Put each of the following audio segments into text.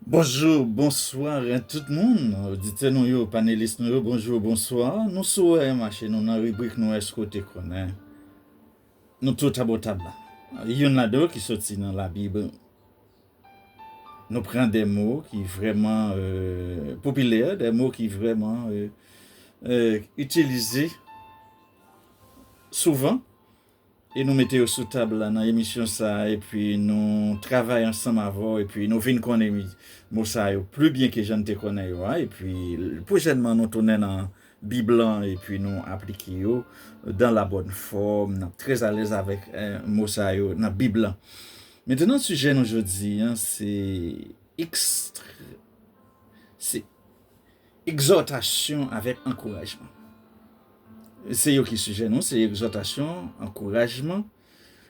Bonjou, bonswa a tout moun, oditè nou yo, panelis nou yo, bonjou, bonswa, nou sou ORMH e nou nan ribrik nou Èske w te konnen? Nou tou tab o tab la. Youn ladan yo ki soti nan labib, nou pran de mo ki vrèman popilè, de mo ki vrèman itilize souvan, E nou mete yo sou tab la nan emisyon sa a epi nou travay ansanm avè w epi nou vin konnen mo sa yo pli byen ke jan n te konnen yo a epi pwochènman nou tounen nan Bib lan epi nou aplike yo dan la bòn fòm n ap trè alèz avèk mo sa yo nan Bib lan Mentenan sijè nou jodi an se extr se. Egzòtasyon avèk ankourajman. Se yo ki sijè nou, se egzòtasyon, ankourajman.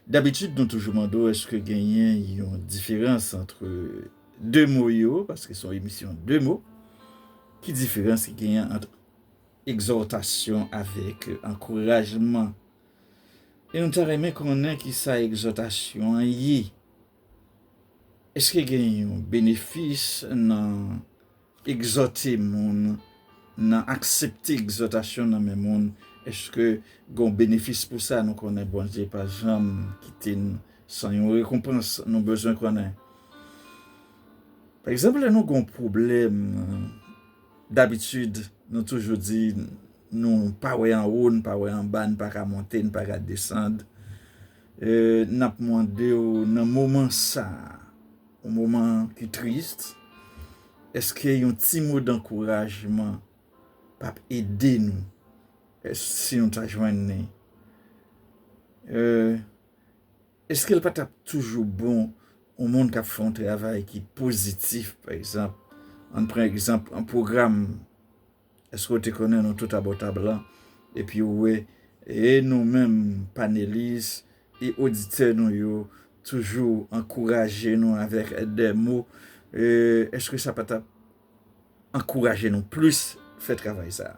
Dabitid nou toujou mande w èske genyen yon diferans antre de mo yo, paske se yon emisyon de mo. Ki diferans ki genyen antre egzòtasyon avèk ankourajman? E nou ta renmen konnen ki sa egzòtasyon an ye. Èske gen yon benefis nan Egzòte moun nan aksepte egzòtasyon nan men moun, èske gen yon benefis pou sa? Nou konnen Bondye pa janm kite n san yon rekonpans. Nou bezwen konnen. Pa egzanp, lè nou gen yon pwoblèm, dabitid nou toujou di, Nou pa wè anwo, n pa wè anba, n pa ka monte, n pa ka desann. N ap mande w, nan moman sa a. yon moman ki trist, eske yon ti mo dankourajman pap ede nou si nou ta jwenn li? Eske l pa tap toujou bon yon moun kap fè yon travay ki pozitif pa egzanp, ann pran egzanp yon pwogram Eske w te konnen nou tout abòtab la? Epi ou wè, e nou menm panelis e oditè nou yo toujou ankouraje nou avèk de mo, eske sa pa tap ankouraje nou plis fè travay sa?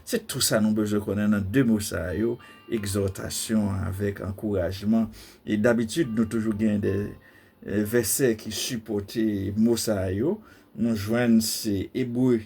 Se tou sa nou bezwen konnen nan de mo sa yo, egzòtasyon avèk ankourajman. E dabitid nou toujou gen de vèsè ki sipòte mo sa yo, nou jwenn se Ebre.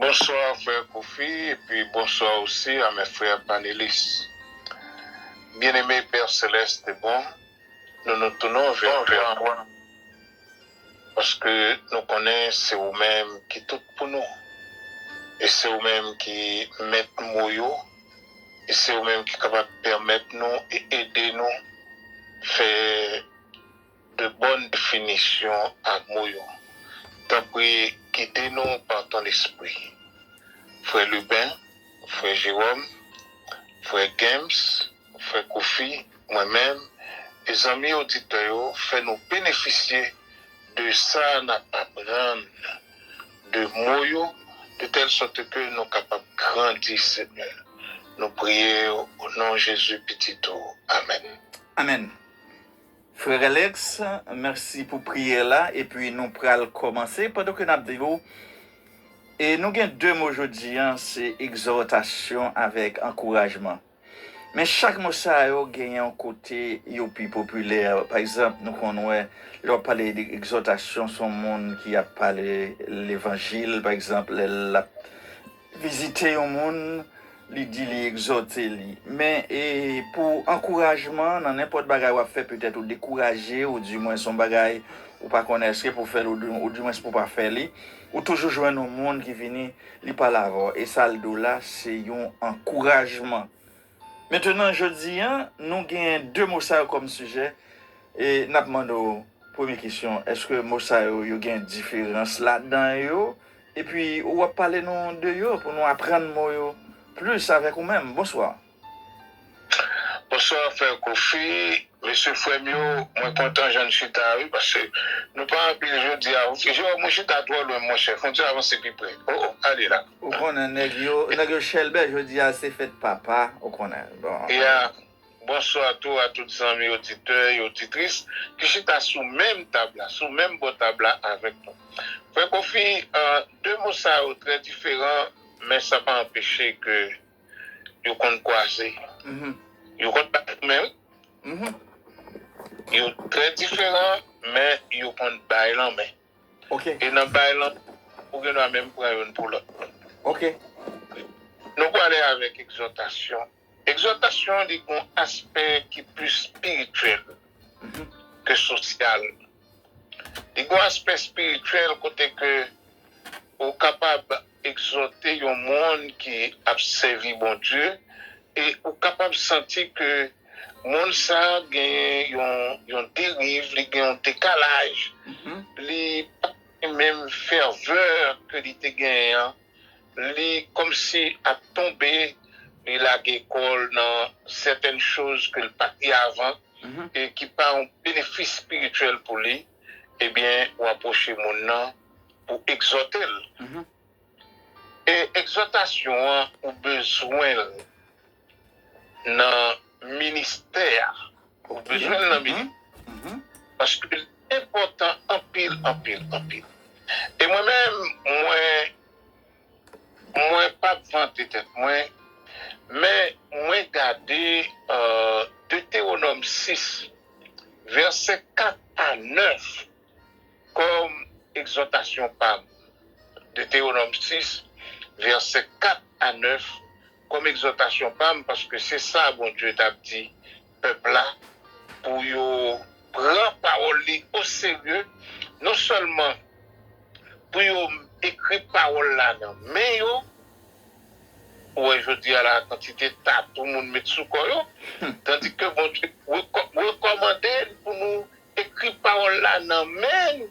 Bonswa frè Kofi epi bonswa osi a mè frè Panelis. Byeneme Pè Selès te bon nou nou tounon vè ou Pè Antoine paske nou konnen se ou menm ki tout pou nou e se ou menm ki mèt mo yo e se ou menm ki kapab pèmèt nou e ede nou fè 2 bòn definisyon a mo yo. Tanpri gide nou pa ton lespri, Frè Luben, Frè Jeròm, Frè Genms, Frè Kofi, mwen menm, e zanmi oditè yo fè nou benefisye de sa n ap aprann de mo yo de tèl sòt ke nou kapab grandi, Senyè. Nou priye o non Jezi Pitit ou. Amèn. Amèn. Frère Alex, merci pou priyè la epi nou pral kòmanse pandan ke nap viv ou e nou gen 2 mo jodi an se exhortation avèk ankourajman men chak mo sa yo genyen yon kote yo pi popilè pa egzanp nou konn wè lè wap pale de exhortation son moun ki ap pale levanjil pa egzanp lè lap Vizite yon moun, li di li egzòte li. Men, e pou ankourajman nan nenpòt bagay w ap fè, petèt ou dekouraje, oudimwens se yon bagay ou pa konnen èske pou w fè l oudimwens pou w pa fè li, ou toujou jwenn yon moun ki vini, li pale avè w e sa l di w la se yon ankourajman Mentenan jodi an, nou genyen 2 mo sa yo kòm sijè e n ap mande w premye kesyon, èske mo sa yo, yo gen diferans ladan yo? Epi ou ap pale nou de yo pou nou aprann mo yo plis avèk ou menm. Bonswa. Bonswa frè Kofi. Mesi frem yo mwen kontan jan n chita a wi paske nou pa anpil jodia wi Jerome ou chita tro lwen monchè fon ti avanse pi pre oh oh ale la. Ou konnen neg yo neg yo chèlbè jodia se fèt papa ou konnen bon. Ya bonswa tou a tout zanmi oditè e oditris ki chita sou menm tab la sou menm bò tab la avèk nou frè Kofi 2 mo sa yo trè diferan men sa pa anpeche ke yo konn kwaze. Yo konn bat men wi. Yo trè diferan men yo konn bay lan men. E nan bay lan men ou gen dwa menm pran youn pou lòt. Nou pwale avèk egzòtasyon. Egzòtasyon li gon aspè ki plis espirityèl ke sosyal. Li gon aspè espirityèl kote ke ou kapab. egzòte yon moun ki ap sèvi Bondye e ou kapab santi ke moun sa gen yon deriv, li gen yon dekalaj, li pa gen menm fèvè ke li te genyen an, li kòmsi ap tonbe, li lage kò l nan sètèn choz ke l pat gen avan e ki pa yon benefis espirityèl pou li, ebyen ou apwoche moun nan. pou egzòte l. E egzòtasyon an ou bezwen l nan ministè a. Ou bezwen l nan ministè a. Paske l enpòtan anpil, anpil, anpil. E mwen menm, mwen, mwen pap vante tèt mwen, men mwen gade Deteronòm 6, vèsè 4 a 9. Kòm egzòtasyon pa m. Detewonòm 6, vèsè 4 a 9, Kòm egzòtasyon pa m, paske se sa Bondye t ap di pèp la pou yo pran pawòl li oserye, nonsèlman pou yo ekri pawòl la nan men yo, ou wè jodi a la a kantite tatou moun met sou kò yo, tandike Bondye rekòmande n pou nou Ekri pawòl la nan menn,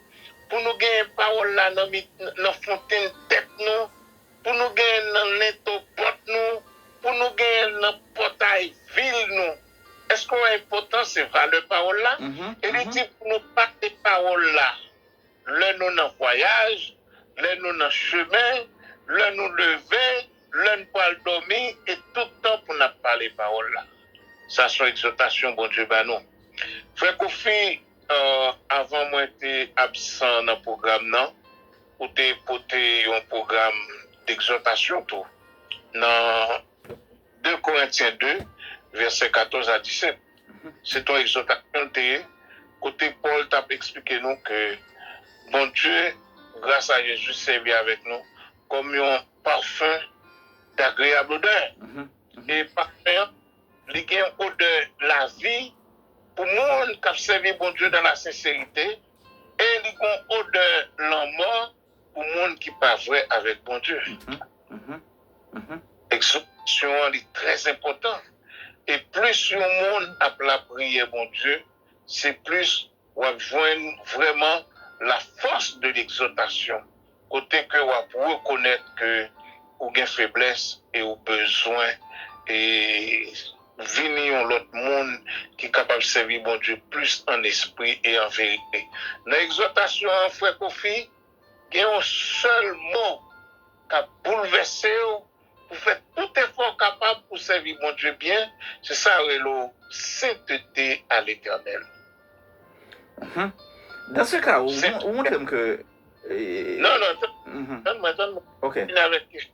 pou nou genyen pawòl la nan mi, nan fontenn tèt nou, pou nou genyen nan lento pòt nou, pou nou genyen nan pòtay vil nou. Èske w wè enpòtans e valè pawòl la? E li di pou nou pale pawòl la lè nou nan vwayaj, lè nou nan chemen, lè nou leve. Lè n pral dòmi e tout tan pou n ap pale pawòl la. Sa son egzòtasyon Bondye ba nou. Frè Kofi, avan mwen te absan nan pwogram nan, ou te pote yon pwogram degzòtasyon tou nan De Korentyen 2, vèsè 14 a 17. Se ton egzòtasyon l te ye, kote Pòl t ap eksplike nou ke Bondye, gras a Jezi, sèvi avèk nou kòm yon. parfum d'agreable odeur e parfum an li gen yon odè lavi pou moun kap sèvi Bondye dan la senserite e li gon odè lanmò pou moun ki pa vrè avèk Bondye egzòtasyon an li trè enpòtan e plis yon moun ap lapriyè Bondye se plis w ap jwenn vrèman la force de l'exhortation kote ke w ap rekonèt ke ou gen feblès e ou bezwen vini yon lòt moun ki kapab sèvi Bondye plis an espri e an verite. Nan egzòtasyon an frè Kofi gen yon sèl mo k ap boulvèse w Pou fè tout efò w kapab pou w sèvi Bondye byen, se sa yo rele w sentete a Letènèl. Dans se ka, ou montre m ke. Non, non, tann mwen, tann mwen. Ok. Fini avèk kesyon.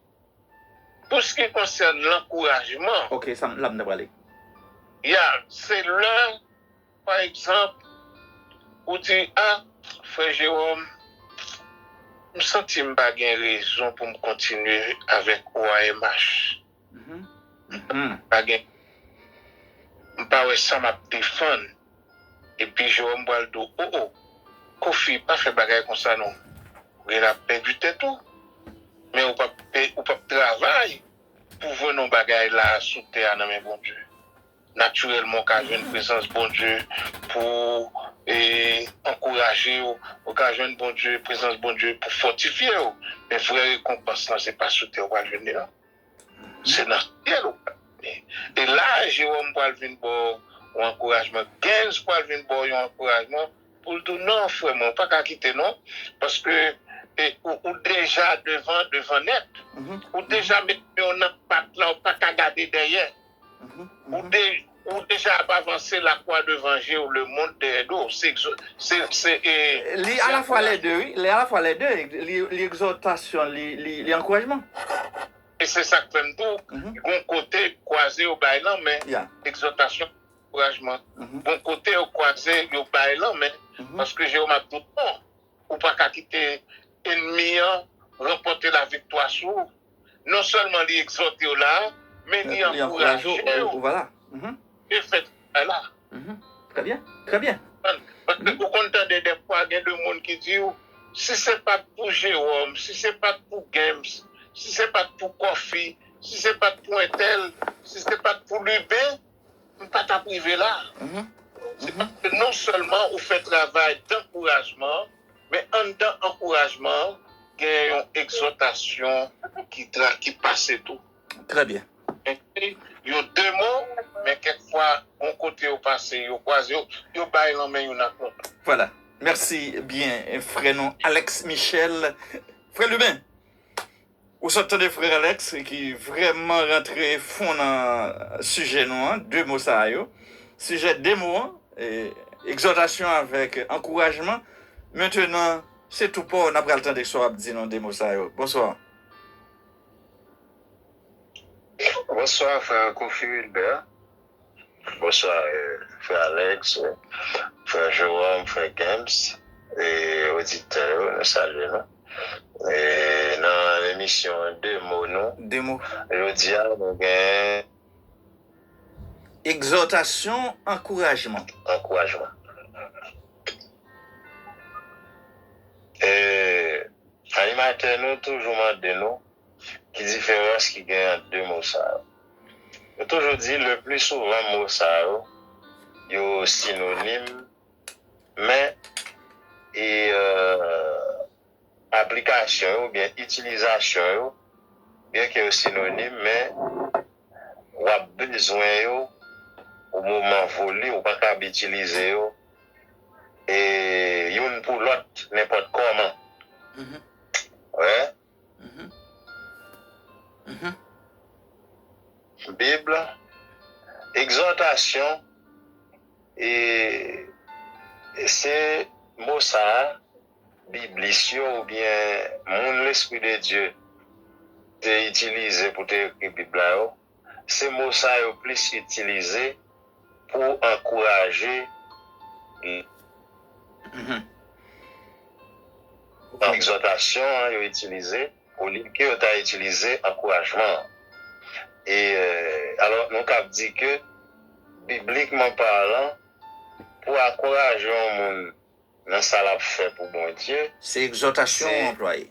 Pou s ki konsène lankourajman. Ok, sa m la m ta prale. Ya, se lè. Pa egzanp, ou di, A, frè Jewòm, m santi m pa gen rezon pou m kontinye avèk OAMH. M pa wè sa m ap defann. Epi Jewòm pral di w, O, o, Kofi, pa fè bagay konsa non. Ou genlè ap pèdi tèt ou, men ou pap travay pou w jwenn yon bagay la a sou tè a nan men Bondye. Natirèlman ou ka jwenn prezans Bondye pou ankouraje w, ou ka jwenn Bondye, prezans Bondye pou fòtifye w, men vrè rekonpans lan se pa sou tè ou pral jwenn li non, se nan syèl ou pral jwenn li. E la a Jewòm pral vin ba w yon ankourajman, Gaines pral vin ba w yon ankourajman pou l di w, non frè mwen ou pa ka kite non, paske ou deja devan, devan nèt, ou deja met men w nan pat la, ou pa ka gade dèyè. Ou deja ap avanse lakwa devan je w, lemonn dèyè do w. Li alafwa lè de, wi. Li alafwa lè de. Li egzòtasyon, li ankourajman. E se sa k fè m di w, gon kote yo kwaze yo bay lanmen, egzòtasyon ak ankourajman. Gon kote yo kwaze yo bay lanmen, paske Jewoma ap di w non. Ou pa ka kite enmi an ranpòte laviktwa sou ou. Non sèlman li egzòte w la a, men li ankouraje w e fè travay la. Trè byen, trè byen. Paske ou konn tande dèfwa gen de moun ki di w, si se pa t pou Jewòm, si se pa t pou Genms, si se pa t pou Kòfi, si se pa t pou entèl, si se pa t pou Liben. M pa t ap rive la. Se paske non sèlman ou fè travay dankourajman, men anndan ankourajman an, gen yon egzòtasyon ki pase tou. Trè byen. Epi, yo de mo, men kèk fwa, gon kote yo pase, yo kwaze, yo bay lanmen youn ak lòt. Vwala. Mèsi byen, frè nou, Alex Michel. Frè Lubin, Ou sot tande frè Alex ki vrèman rantre fon nan sijè nou an, 2 mo sa yo. Sijè 2 mo an, egzòtasyon avèk ankourajman. Mentenan, se tou pa w n ap pral tande sa w ap di nou 2 mo sa yo. Bonswa. Bonswa frè Kofi Wilbè. Bonswa frè Alex, frè Jorom, frè Genms e oditè yo nou salye nou e nan emisyon 2 mo nou jodia nou gen. Egzòtasyon, ankourajman. Ankourajman e animatè nou toujou mande nou Ki diferans ki gen ant de mo sa yo? Nou toujou di le pli souvan mo sa yo, yo sinonim, men e aplikasyon yo oubyen itilizasyon yo, byen ke yo sinonim men w ap bezwen yo o moman vole, ou pa kab itilize yo e youn pou lòt nenpòt kòman. Bib, egzòtasyon, se mo sa a biblis yo oubyen moun lespri de Dye te itilize pou te ekri Bib la yo. se mo sa yo plis itilize pou ankouraje li. Nan egzòtasyon an, yo itilize olye ke yo ta itilize ankourajman an. E, alò, nou kab di ke, biblikman palan, pou akouraje yon moun nan sa l ap fè pou Bondye. Se egzòtasyon ou anplwaye.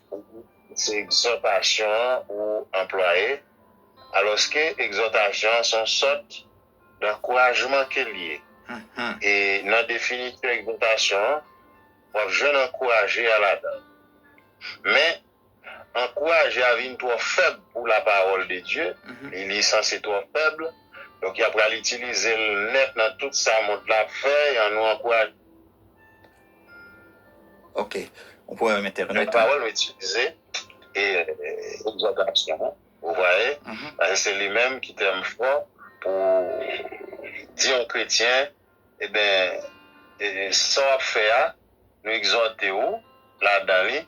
Se egzòtasyon an ou anplwaye, alòske egzòtasyon an se yon sòt dankourajman ke l ye. E nan definisyon egzòtasyon an, w ap jwenn ankouraje a ladan l. Men, ankouraje a vin twò fèb pou la pawòl de Dye, li li sanse twò fèb, donk ya pral itilize l nèt nan tout sa mond la ap fè e an nou ankouraje. Ok, yon pwoblèm entènèt. Yon pawòl nou itilize e egzòtasyon an, ou vwaye, paske se li menm ki tèm fò pou di yon kretyen Eben, sa w ap fè a, nou egzòte ou ladan li.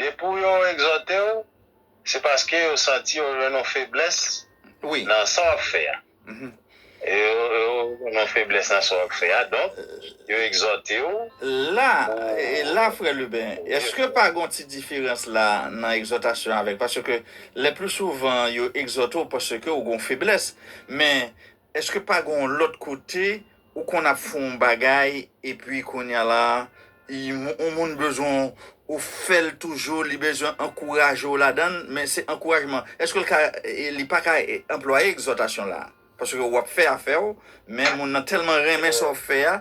Depi yo egzòte ou, se paske yo santi yo jwenn yon feblès nan sa w ap fè a. Donk, yo egzòte ou. La, la, frè Lubin, èske pa gen yon ti diferans la nan egzòtasyon avèk? Paske, lè pli souvan, yo egzòte ou paske ou gen yon feblès. Men. Eske pa gen yon lòt kote ou konn ap fè yon bagay epi kounya la yon moun bezwen w ou fèl toujou li bezwen ankouraje w ladann men se ankourajman eske l ka li pa ka anplwaye egzòtasyon la paske wap fè afè w men moun nan tèlman renmen sa w ap fè a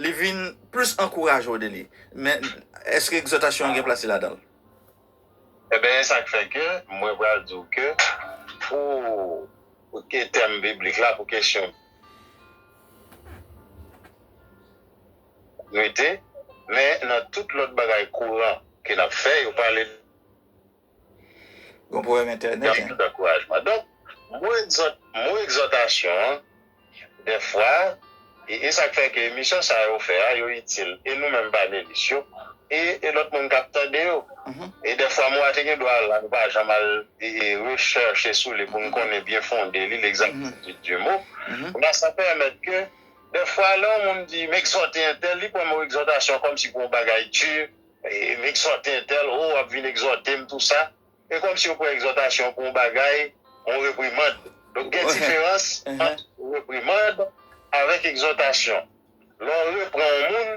li vin plis ankouraje w de li men eske egzòtasyon an gen plas li ladan l. Enben, e sa k fè ke mwen pral di w ke pou tèm biblik la, pou kesyon biblik la, nou te, men nan tout lòt bagay kouran ke n ap fè, yo pale de. Gon pwoblèm entènèt. Tankou ankourajman. Donk, mo egzòtasyon an. Dèfwa, e sa k fè ke emisyon sa yo fè a, yo itil e nou menm panelis yo, e lòt moun k ap tande yo. E dèfwa mo a te gen dwa al la, nou pa janm al rechèche sou li pou n konnen byenfonde li, l'exactitude du mot. Ebyen sa pèmèt ke dèfwa lè yon moun di m egzòte entèl, li pran mo egzòtasyon kòmsi pou yon bagay di, m egzòte entèl, o w ap vin egzòte m tou sa. e kòmsi yo pran egzòtasyon pou yon bagay, yon reprimand. Donk gen diferans ant reprimand avèk egzòtasyon. Lè w repran yon moun,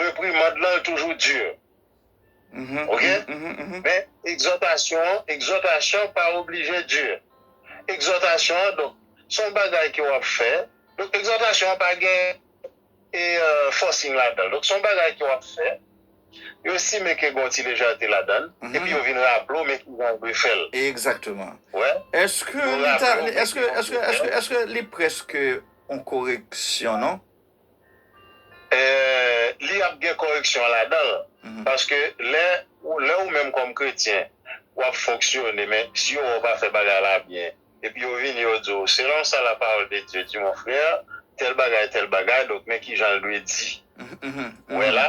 reprimand lan l toujou dur. Ok? Men egzòtasyon an, egzòtasyon pa oblije dur. Egzòtasyon an, donk, se yon bagay ke w ap fè. Donk egzòtasyon an pa gen. E forcing ladanl. Donk son bagay ke wap fè, yo estime ke gon ti lejète ladann, epi yo vin raple w men kijan ou dwe fèl. Egzakteman. Ou wè? Eske li ta, eske, eske, eske, eske li preske on koreksyon non? Li ap gen koreksyon ladanl. Paske lè, lè ou menm kòm kretyen wap fonksyone men si yo wè w pa fè bagay la byen. Epi yo vini yo di w, selon sa la parole de Dieu dit mon frère, tèl bagay, tèl bagay, donk men kijan l dwe di. Ou wè la?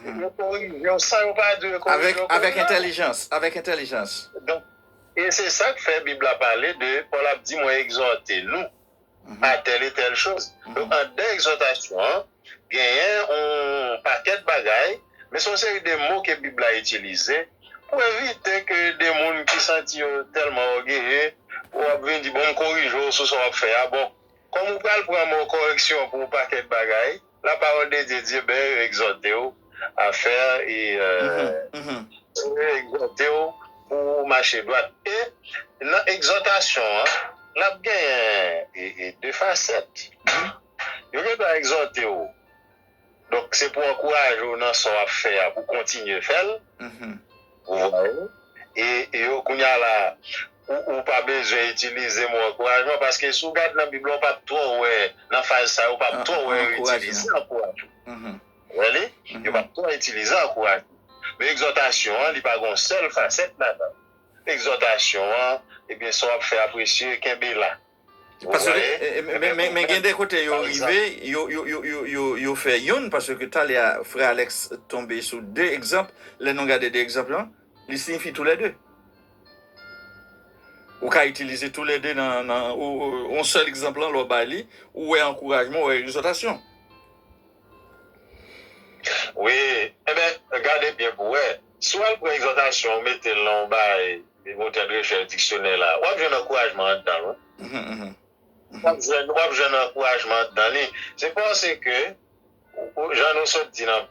Epi yo korije w, san yo pa di w yo korije w konsa. Avèk entèlijans, avèk entèlijans. Donk, e se sa k fè Bib la pale de, Pòl ap di, mwen egzòte nou a tèl e tèl choz. Donk, anndan egzòtasyon an, Genyen yon pakèt bagay, men se yon seri de mo ke Bib la itilize pou evite ke de moun ki santi yo tèlman ògeye, ou ap vin di, bon, m korije w sou sa w ap fè a. Bon, kòm ou pral pran mo kòreksyon pou yon pakèt bagay, Lapawòl de Dye di, ben, yo egzòte w a fè, yo egzòte w pou ou mache dwat. E, nan egzòtasyon an, l ap genyen de fasèt. Yo gentan egzòte w. Donk se pou ankouraje w nan sa w ap fè a pou w kontinye fè l. Ou vwaye? E yo kounye a la ou pa bezwen itilize mo ankourajman paske si w gade nan Bib la ou pap twò wè nan faz sa yo ou pap twò wè yo itilize ankourajman. Ou wè li? Yo pap twò itilize ankourajman. Men egzòtasyon an li pa gen yon sèl fasèt ladan l. Egzòtasyon an, Ebyen sa w ap fè a presye, kenbe la. Paske men gen de kote yo rive, yo fè youn, paske talè a frè Alex tonbe sou 2 egzanp, lè nou gade 2 egzanp lan, li siyifi tou lè 2. Ou ka itilize tou lè 2 nan yon sèl egzanp lan lè w bay li, ou wè ankourajman, ou wè egzòtasyon. Wi, enben gade byen pou wè, si w al pran egzòtasyon ou mete l nan yon bagay Li bon tèt rechèch diksyonè la. Wap jwenn ankourajman andan l wi. Wap jwenn ankourajman andan li. Se pase ke jan nou sot di nan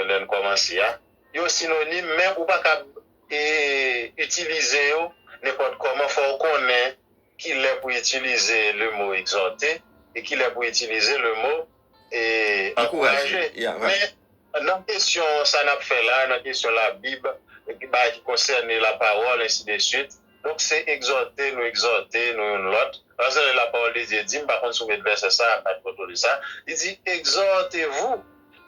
lè n kòmanse a, yo sinonim men ou pa kab itilize yo nenpòt kòman fò w konnen kilè pou itilize le mo exòte e kilè pou itilize le mo ankouraje. Men, nan kesyon sa n ap fè la a, nan kesyon Labib, bagay ki konsène lapawòl, ensideswit, donk se egzòte nou egzòte nou youn lòt. Anzè, lapawòl de Dye di, m pa konn si w met vèsè sa a, m pa t kote w li sa, li di, Egzòtevou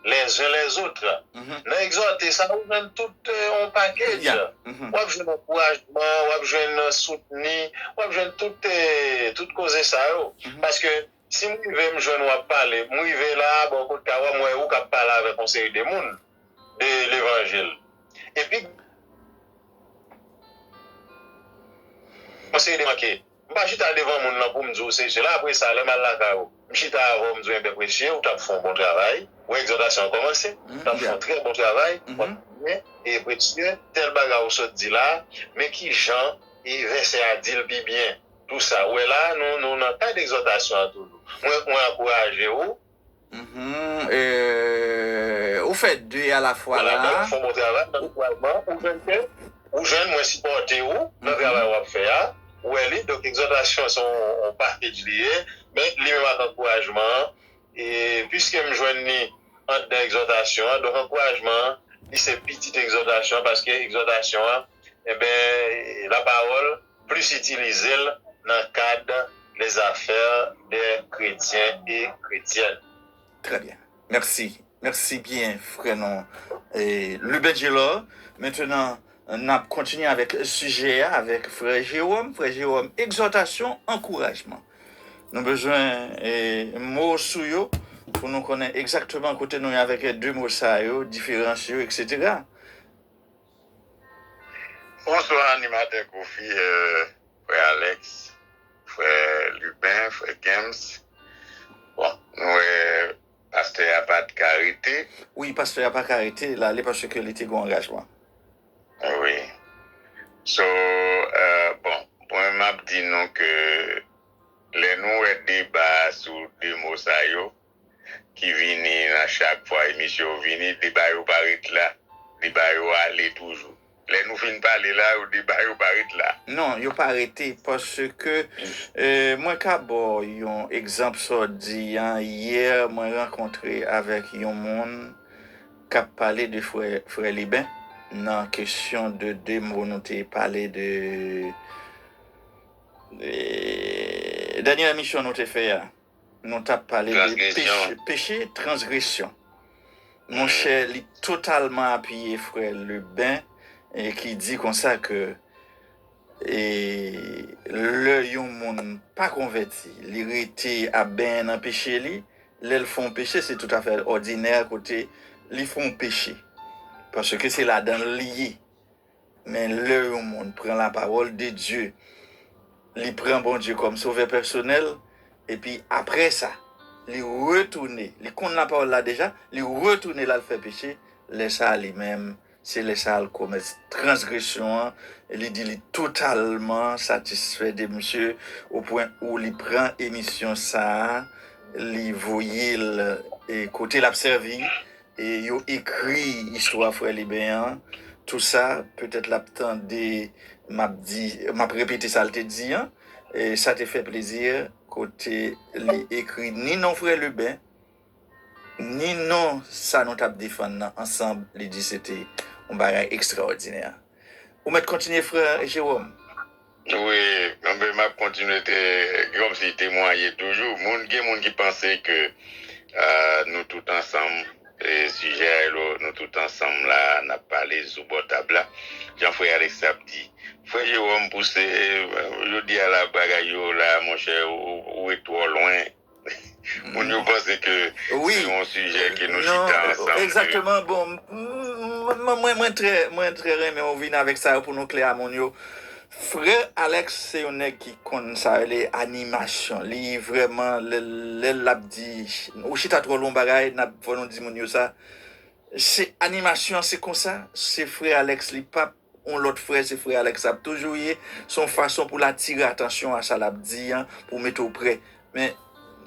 lèzen lèzot. Nan egzòte sa a, ou jwenn tout yon pakej. W ap jwenn ankourajman, w ap jwenn soutni, w ap jwenn tout koze sa yo. Paske. Sim rive m jwenn wap pale m rive la a bò kot ka wè m wè ou kap pale avèk yon seri de moun de levanjil epi gen yon seri de moun ke m pa chita devan moun lan poum di w sesi la apresa lèm al lakay ou m chita avè w m di w enben presye ou tap fè yon bon travay wè egzòtasyon an kòmanse ou tap fè yon trè bon travay wap byen e presye tèl bagay ou sot di la men kijan vèsè a dil pi byen. Tou sa, ou wè la a, nou nou nan kad egzòtasyon an toujou. Mwen mwen ankouraje ou. Hum ou fè 2 a la fwa la. Ou fon bon travay nan ankourajman ou jwenn ke ou jwenn mwen sipòte ou nan travay wap fè a. Ou wè li donk egzòtasyon se yon package li ye men li menm ak ankourajman an e piske m jwenn li andan egzòtasyon an donk ankourajman an li se pitit egzòtasyon an paske egzòtasyon an enben la parole plis itilize l nan kad lèzafè dè kretyen e kretyèn. Trè byen. Mèsi. Mèsi byen frè nou Lubin Gelor. Mentenan n ap kontinye avèk sijè a avèk frè Jewòm. Frè Jewòm, egzòtasyon, ankourajman. Nou bezwen mo sou yo pou nou konnen egzakteman kote nou ye avèk de mo sa yo, diferans yo, eksetera. Bonswa animatè Kofi, frè Alex, frè Lubin, frè Genms. Bon nou wè pastè a pat ka rete. Wi pastè a paka rete l ale paske li te gon angajman. Wi so bon mwen map di nou ke lè nou wè deba sou 2 mo sa yo. ki vini nan chak fwa emisyon yo vini deba yo pa ret la deba yo ale toujou lè nou fin pale la yo deba yo pa ret la. Non yo pa rete paske mwen ka ba w yon egzanp sa w di an yè mwen rankontre avèk yon moun k ap pale de frè frè liben nan kesyon de de mo nou te pale de dènye emisyon nou te fè a. Nou tap pale de peche, peche transgression monchè li totalman apiye frè Lubin ki di konsa ke lè yon moun pa konvèti li rete ap benyen nan peche li, lèl fon peche se tout afè òdinè kote li fon peche paske se ladanl li ye. Men lè yon moun pran la pawòl de Dye, li pran Bondye kòm sovè pèsonèl, epi apre sa, li retounen, li konn la pawòl la deja, li retounen l'al fè peche, lè sa a li menm, se lè sa a l' komèt transgresyon an, e li di li totalman satisfè de misye, o pwen ou li pran emisyon sa a, li voye l' kote l'ap sèvi. E yo ekri istwa frè Liben an tou sa, petèt l'ap tande m'ap di, m'ap repete sa l' te di an, e sa te fè plezi kote li ekri ni non frè Liben, ni non sa nou t'ap defann nan ansanm, li di se te yon bagay ekstraòdinè. Ou mèt kontinye frè Jérôme. Wi anben map kontinye te kom si temwaye toujou moun gen moun ki panse ke nou tout ansanm e sijè a elo nou tout ansanm la nap pale sou bò tab la jan frè Alex tap di frè Jewòm pouse yo di a la bagay yo la monchè ou ret twò lwen. Moun yo panse ke se yon sijè ke nou chita ansanm. Exactement, bon, mwen trè, mwen trè renmen ou vin avèk sa yo pou nou klè a moun yo. Frè Alex se yon nèg ki konn sa yo rele animasyon. Li vrèman, lè l ap di, ou chita twò lwen bagay, n ap fò nou di moun yo sa. Se animasyon, se konsa, se frè Alex li pap. Yon lòt frè se frè Alex ap toujou ye, se yon fason pou l atire atansyon a sa l ap di an, pou mete w prè. Men,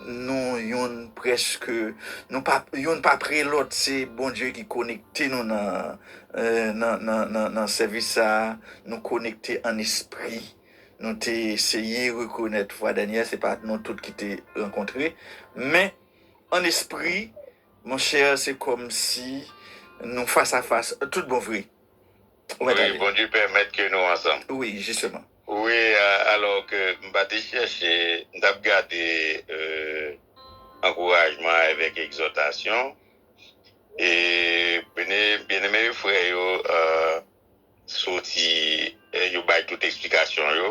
nou youn prèske, nou pa, youn pa pre lòt, se Bondye ki konekte nou nan, nan, nan, nan, nan sèvis sa a, nou konekte ann espri. Nou te eseye rekonèt fwa dènyè, se pa nou tout ki te rankontre, men, ann espri, monchè, se kòmsi nou fas a fas, tout bon vre. Ou mèt ale. Wi, Bondye pèmèt ke nou ansanm. Wi, jisteman. Wi, alò ke m pa te chèche, m t ap gade ankourajman avèk egzòtasyon. E, byeneme frè yo soti. yo bay tout eksplikasyon yo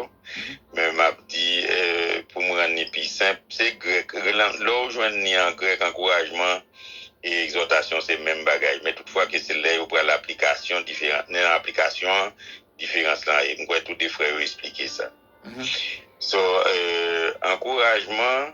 men map di pou m rann li pi senp se grèk lè ou jwenn li an grèk ankourajman e egzòtasyon se menm bagay men toutfwa ke se lè yo pral aplikasyon diferan nan aplikasyon an diferans lan ye m kwè tou 2 frè yo esplike sa so ankourajman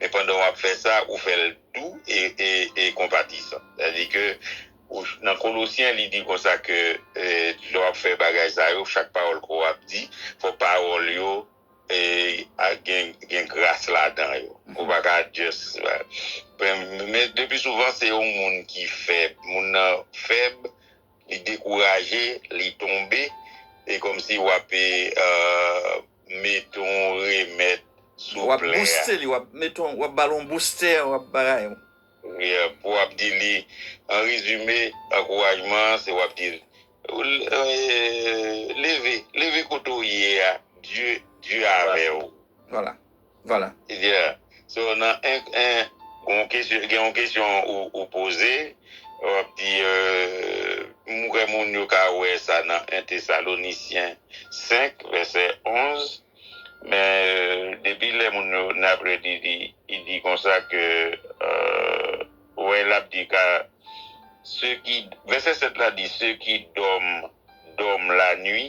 E pandan w ap fè sa, ou fè l dou e konpatisan. Sètadi ke nan Kolosyen, li di konsa ke lè w ap fè bagay sa yo, chak pawòl ke w ap di, fò pawòl yo gen gras ladan yo. Ou pa ka just. Men le pi souvan, se yon moun ki fèb. Moun nan fèb, li dekouraje, li tonbe, e kòmsi w ap. met on remet souple. Wap bouste li wap met on wap bal on bouste wap bagay. Yep pou wap di li an rezime ankourajman an se wap dil leve leve kote ou ye a Dieu Dieu avew. Voilà. Voilà. Yeah. So nan en en gon kesyon gen yon kesyon ou ou poze ou ap di euh m kwè moun yo ka wè sa nan 1 Tesalonicien 5 vèsè 11 men depi lè moun yo n ap redi di li di konsa ke euh wè l ap di ka se ki vèsè 7 la di se ki dòm dòm la nwi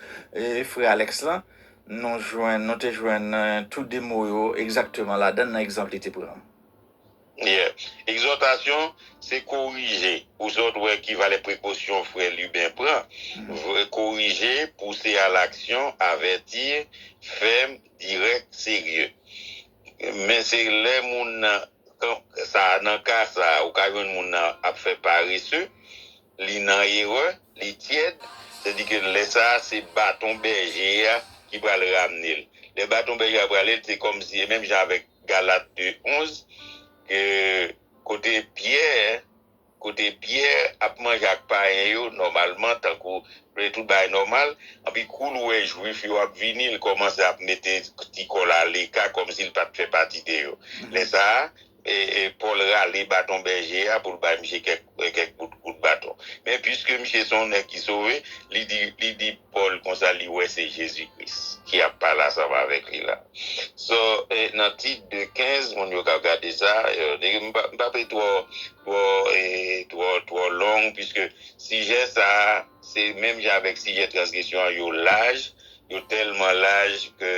E frè Alex lan, nou jwenn, nou te jwenn tou de mo yo egzakteman ladan nan egzanp li te pran an. Yeah. Egzòtasyon, se korije. Pou zòt wè ki valè prekosyon frè Lubin pran. Vre korije, pouse a laksyon, avèti, fèm, dirèk, serye. Men se lè moun nan, sa a nan ka sa a, ou ka jwenn moun nan ap fè parese, Li nan erè, li tyèd, se di ke lè sa a se baton bèje a ki pral ramne l. Lè baton bèje a prale l se kòm si e menm jan avèk Galat 2, 11 ke kote Pyè, kote Pyè ap manje ak payen yo nòmalman tankou lè tout bagay nòmal, anpi kou l wè jwif yo ap vini l kòmanse ap mete ti kò l aleka kòm si l pa t fè pati de yo. Lè sa a. Pòl rale baton bèje a pou l bay misye kèk bout kout baton. Men, piske misye se yon nèg ki sove, li di Pòl konsa li wè se Jezi Kris ki ap pale ansanm avèk li la. So, nan Tit 2, 15, moun yo ka gade sa. M pa vle twò twò long, piske sijè sa a, se menm jan avèk sijè transgresyon an, yo laj, yo tèlman laj ke.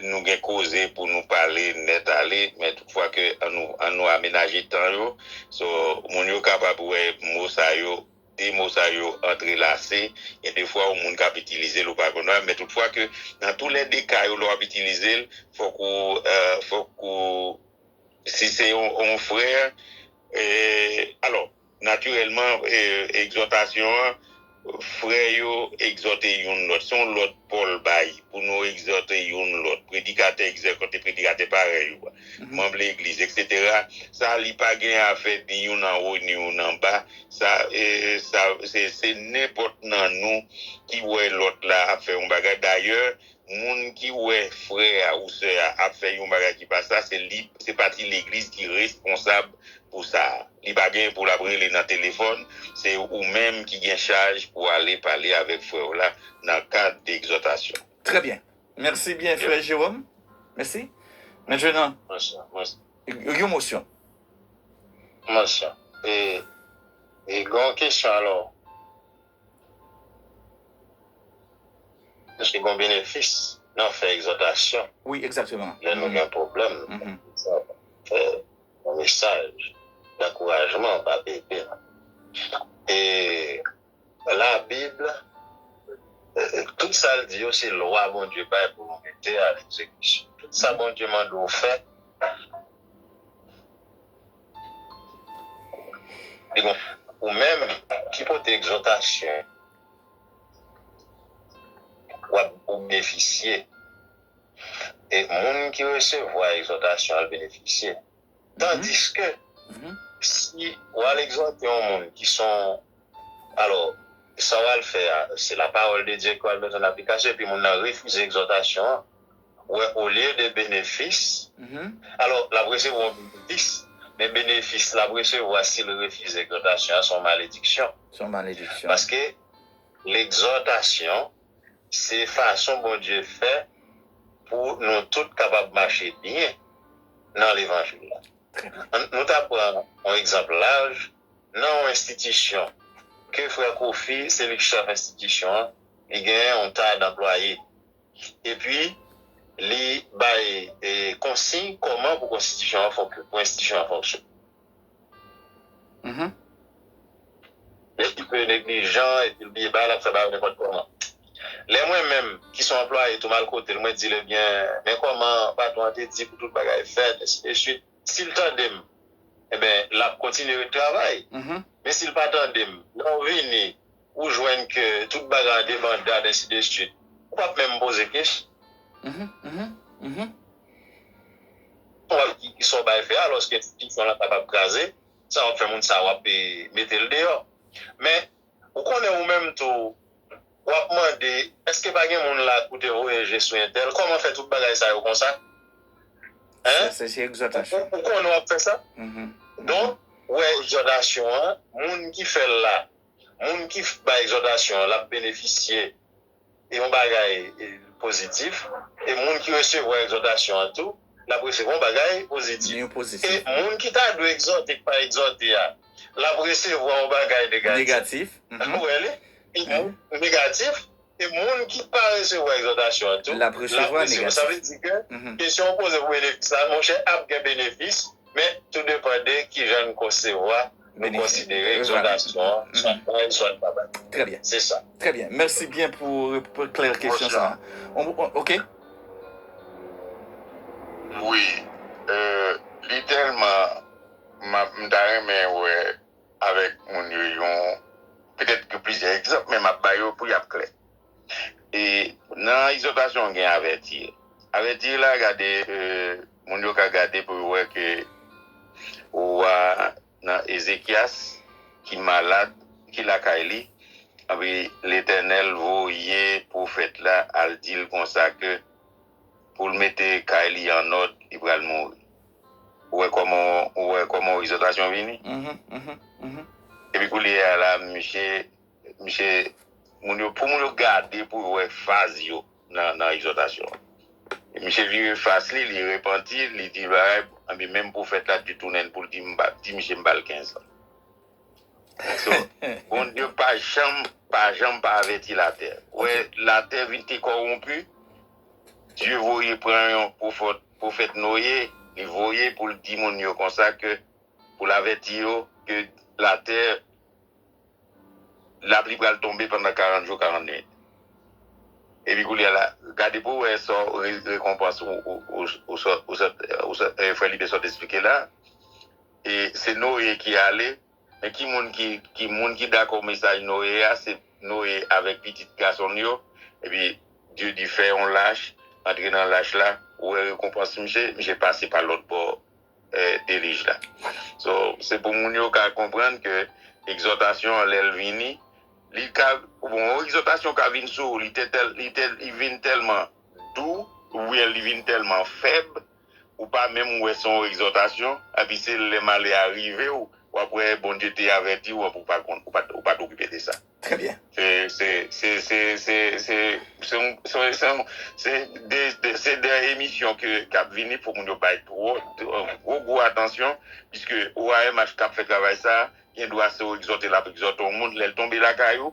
Nou gen koze pou nou pale nèt ale, men tout fwa ke an nou amenaje tan yo, so moun yo kapab wè mo sa yo, 2 mo sa yo antrelase, gen de fwa ou moun kap itilize l ou pa konn wè, men tout fwa ke nan tou lè 2 ka yo lè wap itilize l fòk ou fòk ou si se yon frè e alò. Natirèlman, egzòtasyon an, Frè yo egzòte youn lòt, se yon lòd Pòl bay pou nou egzòte youn lòt. Predikatè egzòte predikatè parèy yo, manm legliz, eksetera. Sa a, li pa gen afè ni youn anwo ni youn anba. Sa, se nenpòt nan nou ki wè lòt la ap fè yon bagay. Dayè, Moun ki wè frè a ou sè a ap fè yon bagay ki pa sa, se li, se pati legliz ki responsab pou sa. Li pa gen pou l'ap rele nan telefòn, se ou menm ki gen chaj pou ale pale avèk frè w la nan kad egzòtasyon. Trè byen. Mèsi byen frè Jérôme. Mèsi. Mentenan. Mèsi. Mèsi. Yon mosyon. Mosyon. E gen yon kesyon alò. Eske gon benefis nan fè egzòtasyon lè nou gen pwoblèm? Fè yon mesaj dankourajman pa p ede nou. E Labib, tout sa l di yo se lwa Bondye bay pou nou mete a lekzekisyon. Tout sa Bondye mande w fè. Ou menm ki pote egzòtasyon w ap benefisye, e moun ki resevwa egzòtasyon ap benefisye. Tandiske, si w al egzòte yon moun ki se yon, alò, sa w al fè a, se lapawòl de Dye ki pral mete an aplikasyon, epi moun nan refize egzòtasyon an, wè olye de benefis, alò l ap resevwa yon benefis, men benefis l ap resevwa si l refize egzòtasyon an se yon malediksyon. Paske legzòtasyon se fason Bondye fè pou nou tout kapab mache byen nan levanjil la. Nou ta pran yon egzanp laj, nan yon enstitisyon ke frè Kofi se li k chèf enstitisyon an, li genyen yon ta danplwaye. epi li bay konsiy kòman pou enstitisyon an fonksyone. Lè ki pè neglijan epi l bliye bagay l ap fè bagay nenpòt kòman. Lè mwen menm ki son anplwaye tou m al kote l mwen di l ebyen men kòman patwon an te di pou tout bagay fèt ensideswit. Si l tande m enben l ap kontinye ret travay men si l pa tande m lè w vini ou jwenn ke tout bagay an debandad ainsi de suite. Ou pap menm poze kesyon. Ou ap di kisa w bay fè a alòske enstitisyon lan kapab kraze. Sa w ap fè moun sa w ap mete l deyò. Men ou konnen ou menm tou w ap mande èske pa gen moun la kou te voye je sou entèl? Kòman fè tout bagay sa yo konsa? Ou konnen w ap fè sa? Donk wè egzòtasyon an moun ki fè l la moun ki bay egzòtasyon an l ap benefisye yon bagay pozitif, e moun ki resevwa egzòtasyon an tou, l ap resevwa yon bagay pozitif. E moun ki ta dwe egzòte ki pa egzòte a, l ap resevwa yon bagay negatif. Ou wè li? Negatif. E moun ki pa resevwa egzantasyon an tou, l ap resevwa negatif. Sa vle di ke kesyon ou poze pou benefis la, monchè, ap gen benefis, men tou depan de ki jan nou konsevwa, nou konsidere egzantasyon an, swa n bay, swa n pa bay. Trè byen. Se sa. Trè byen. Mèsi byen pou eklèr kesyon sa a. Ok. Wi. Li tèlman, m ta renmen wè. avèk moun yo yon petèt gen plizyè egzanp men map bay yo pou yap klè e nan egzòtasyon gen avèti avèti la gade moun yo ka gade pou yo wè ke wa nan Ezekyas ki malad ki lakay li epi letènèl voye pwofèt la al dil konsa ke poul mete kay li annòd li pral mouri. Ou wè kòman ou wè kòman orizontasyon vini? Epi koulye a la misye misye moun yo pou moun yo gade pou yo wè faz yo nan nan egzòtasyon an. Misye vire fas li, li repanti, li di bagay epi menm pwofèt la di tounen pou l di m ba di misye m ba l 15 lan. So, Bondye pa janm pa janm pa avèti latè. Ou wè latè vin te kòwonpi, Dye voye pran yon pwofèt pwofèt Noye, li voye pou l di moun yo konsa ke, pou l avèti yo ke latè, lapli pral tonbe pandan karant jou karant nuit. Epi koulye a la, gade pou w wè sa w, rekonpans ou sot, Frè Libe sot esplike la, e se Noye ki ale, Men ki moun ki ki moun ki dakò mesaj Noye a, se Noye avèk pitit gason l yo, epi Dye di fè yon lach antre nan lach la, ou wè rekonpans misye, misye pase pa lòt bò delij la. So, se pou moun yo ka konprann ke egzòtasyon an lè l vini, li ka bon yon egzòtasyon ka vin sou ou li te tèl li te li vin tèlman dou oubyen li vin tèlman fèb, Ou pa menm wè son egzòtasyon, epi se lè malè a rivew wap wè Bondye te avètiw epi ou pa konn ou pat okipe de sa. Trè byen. Se se se se se se se se se de se de emisyon ke kap vini fo moun yo bay twò gwo gwo atansyon piske OAMH kap fè travay sa gendwa se w egzòte lap egzòte yon moun lèl tonbe lakay ou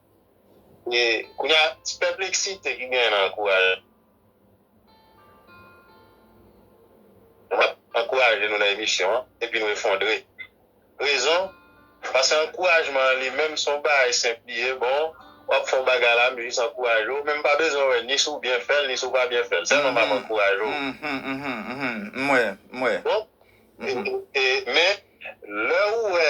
E kounye a ti pèpleksite ki genyen nan ankouraje ankouraje nou nan emisyon an epi nou efondre. Rezon, paske ankourajman an li menm son bagay senp li ye, bon wap fè yon bagay la m jis ankouraje w men m pa bezwen wè ni si w byen fè l ni si w pa byen fè l sèlman map ankouraje w. Bon, men lè ou wè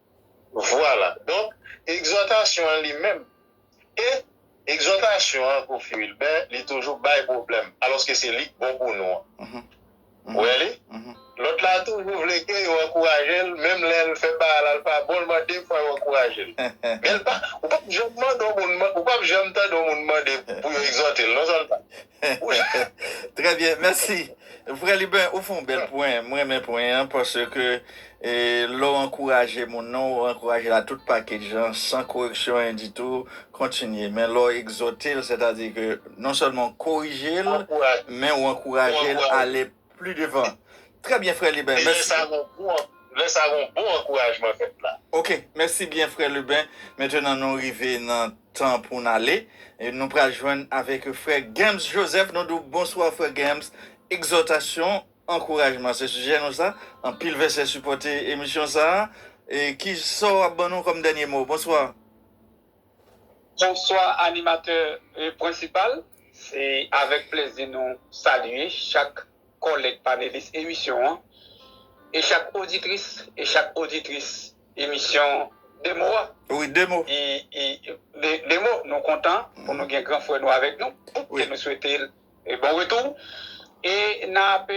Vwala. Donk, egzòtasyon an li menm, e, egzòtasyon an, Kofi Wilbè, li toujou bay pwoblèm, alòske se li k bon pou nou an. Ou wè li? Lòt la toujou vle ke yo ankouraje l, menm lè l fè pa a la, l pa bon, l mande fwa yo ankouraje l. Men l pa, ou p ap janm mande yon moun, ou p ap janm tande yon moun mande pou yo egzòte l non, Zòlta. Trè byen, mèsi. Frè Liben, ou fè yon bèl pwen. M renmen pwen an paske e, lè w ankouraje moun nan, ou ankouraje l a tout pakej lan, san koreksyon, anyen ditou, kontinye. Men lè w egzòte l, sètadi ke non sèlman w korije l, men ou ankouraje l ale. Pli devan. Trè byen frè Liben. Mèsi. E lè sa gon gwo an, lè sa gon bon ankourajman fèt la. Ok. Mèsi byen frè Liben. Mentenan nou rive nan tan pou n ale. Nou pral jwenn avèk frè Guems Joseph. Nou di w bonswa frè Guems. Egzòtasyon, ankourajman se sijè nou sa. Anpil vèsè sipòte emisyon sa a. E ki sa w ap ban nou kòm dènye mo? Bonswa. Bonswa animatè prensipal, se avèk plezi nou salye chak kòlèg panelis emisyon an e chak oditris e chak oditris emisyon Demo a. Wi Demo. Demo, nou kontan pou nou gen gran frè nou avèk nou e nou swete l bon retou e n ap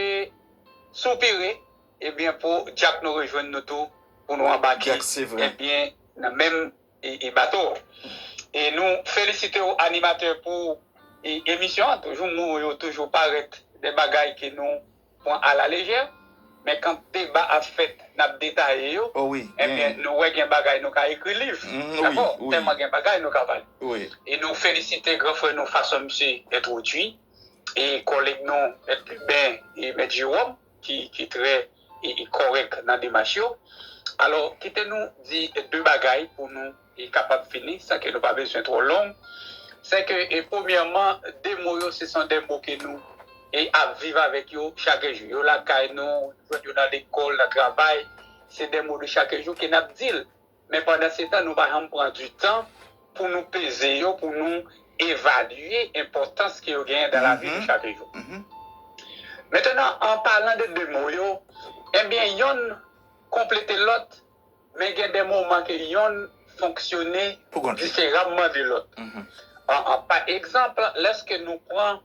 soupire ebyen pou dyak nou rejwenn nou tou pou nou anbake ebyen nan menm e bato. E nou felisitew animatè pou emisyon an toujou mo yo toujou parèt de bagay ke nou pwan a la lejè men kan deba ap fèt nap detaye yo ebyen nou wè gen bagay nou ka ekri liv dakò tèman gen bagay nou ka pale e nou felisite gran frè nou fason misye entwodwi e kòlèg nou mèt Liben e mèt Jewòm. ki trè kòrèk nan demach yo. Alò, kite nou di de bagay pou nou kapab fini san ke nou pa bezwen twò long. Se ke premyèman, de mo yo se son de mo ke nou ap viv avèk yo chak jou. Yo lakay nou, nou jwenn yo nan lekòl, nan travay. Se de mo de chak jou ke n ap di l. men pandansetan nou pa janm pran di tan pou nou peze yo, pou nou evalye enpòtans ke yo genyen dan lavi nou chak jou. Mentenan, an palan de 2 mo yo, enben yonn konplete lòt, men gen de moman ke yonn fonksyone diferamman de lòt. Pa egzanp, lèske nou pran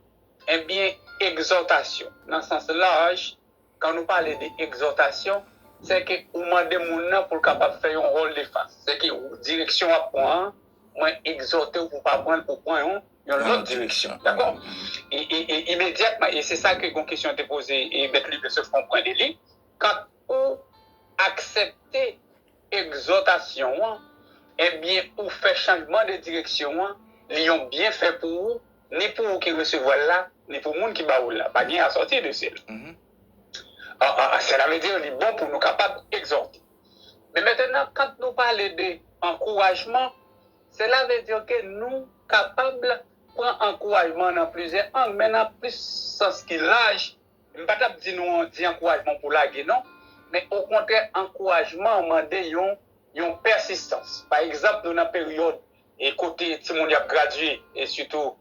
enben egzòtasyon nan sans laj, Kan nou pale de egzòtasyon, se ke ou mande moun nan pou l kapab fè yon vòldefas. Se ke direksyon w ap pran an, mwen egzòte w pou w pa pran l, pou w pran yon lòt direksyon. Dakò? E imedyatman, e se sa ke yon kesyon te poze Mèt Lubin, se fon pwen de li, kan ou aksepte egzòtasyon an, ebyen ou fè chanjman de direksyon an, li yon byenfè pou ou, ni pou ou ki resevwa l la, ni pou moun ki ba ou l la. Pa gen asòti de se l. Sela vle di, li bon pou nou kapab egzòte. Men mentenan, kant nou pale de ankourajman, sela vle di ke nou kapab pran ankourajman nan plizyè ang, men nan plis sans ki laj, M pa tap di nou di ankourajman pou lage non, men okontrè ankourajman an mande yon yon pèsistans. Pa egzanp nou nan peryòd e kote timoun yo ap gradye e sitou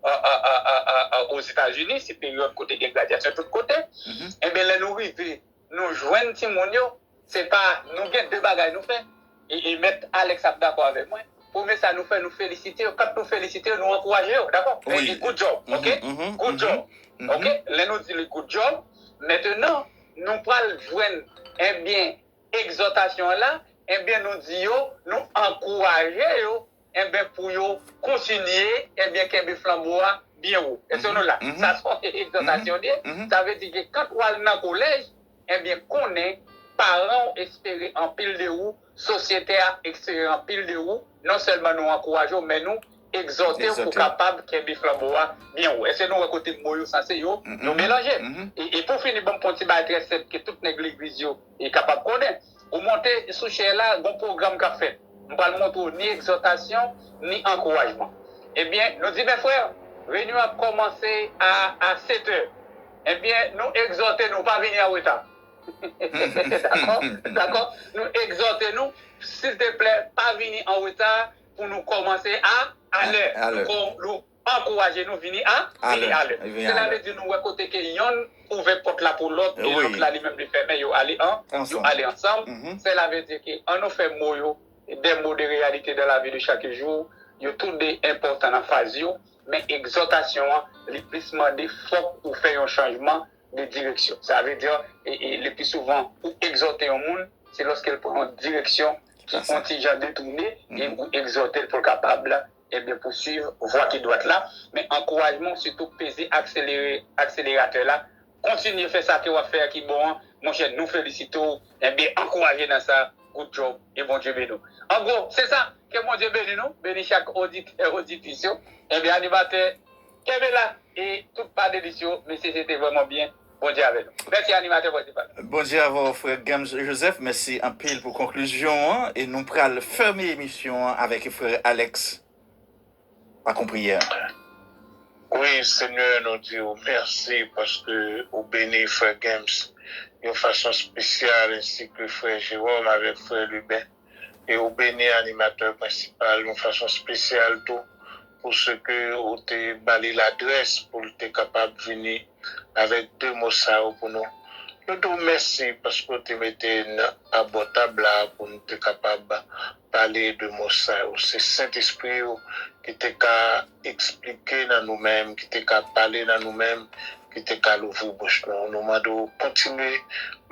Ozetazini se peryòd kote gen gradyasyon tout kote, enben lè nou rive nou jwenn timoun yo, Se pa nou gen de bagay nou fè, e mèt Alex ap dakò avèk mwen, premye sa nou fè nou felisite yo, kant nou felisite yo nou ankouraje yo, dakò? Lè di good job, ok, good job, ok, lè nou di li good job, mentenan nou pral jwenn enbyen egzòtasyon an la, enbyen nou di yo, nou ankouraje yo Enben pou yo kontinye enben kenbe flanbo a byen wo. Èske nou la? Sa se yon egzòtasyon li ye. Sa vle di ke kant ou al nan kolèj, enben konnen paran ou espere anpil de ou, sosyete a espere anpil de ou, non sèlman nou ankouraje ou men nou egzòte ou pou w kapab kenbe flanbo a byen wo. Èske nou wè kote mo yo sanse yo melanje? E pou fini, ban m pran yon ti bagay trè senp ke tout nèg legliz yo kapab konnen. Ou monte sou chè la, gon pwogram k'ap fèt. M pral montre w ni egzòtasyon, ni ankourajman. Ebyen, nou di, Mè frè, reyinyon an ap kòmanse a a setè. Ebyen, nou egzòte nou, pa vini an reta. Dakò? Dakò? Nou egzòte nou, silteplè, pa vini an reta pou nou kòmanse a a lè. Nou kon, nou. ankouraje nou vini a vini alè sela vle di nou wè kote ke yonn ouvè pòt la pou lòt e lòt la li menm li fèmen yo ale an yo ale ansanm sela vle di ke an nou fè mo yo de mo de reyalite dan lavi de chak jou yo tou de enpòtan nan faz yo men egzòtasyon an li plis mande fòk ou fè yon chanjman de direksyon sa vle di e le pi souvan pou egzòte yon moun se lòske l pran yon direksyon ki ontijan detounen e ou egzòte l pou l kapab Ebyen pou swiv vwa ki dwat la, men ankourajman w sitou peze akselere akseleratè la, kontinye fè sa ke wap fè a ki bon an, monchè nou felisite w, ebyen ankouraje nan sa, good job e Bondye beni w. An gwo, se sa, ke Bondye beni nou, beni chak oditè oditris yo, ebyen animatè. Kenbe la e tout panelist yo mesye se te vreman byen Bondye avè nou mèsi animatè vwa zepam. Bondye avè w frè Guems Joseph mèsi anpil pou konklizyon an e nou pral fème emisyon an avèk frè Alex ak yon priyè. Wi Senyè nou di w mèsi paske ou beni frè Guems yon fason spesyal ensi ke frè Jerome avèk frè Lubin. e ou beni animatè prensipal yon fason spesyal tou pou se ke ou te ba li ladrès pou l te kapab vini avèk 2 mo sa yo pou nou. Nou di w mèsi paske ou te mete n a bò tab la pou n te kapab pale de mo sa yo. Se Sentespri yo ki te ka. eksplike nan nou menm, ki te ka pale nan nou menm, ki te ka louvri bouch nou. Nou mande w kontinye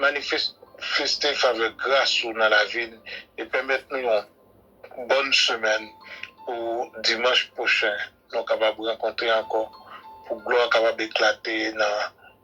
manifeste favè gras ou nan lavi n e pèmèt nou yon bòn semèn pou dimanch pwochen nou kapab rankontre ankò pou glwa w kapab eklate nan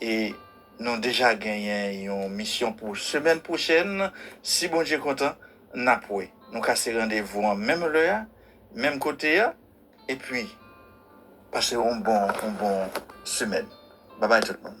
E nou deja genyen yon misyon pou semèn pwochèn, si Bondye kontan, n ap wè. Nou kase randevou an menm lè a, menm kote a, epi pase yon bon semèn. Babay tout moun.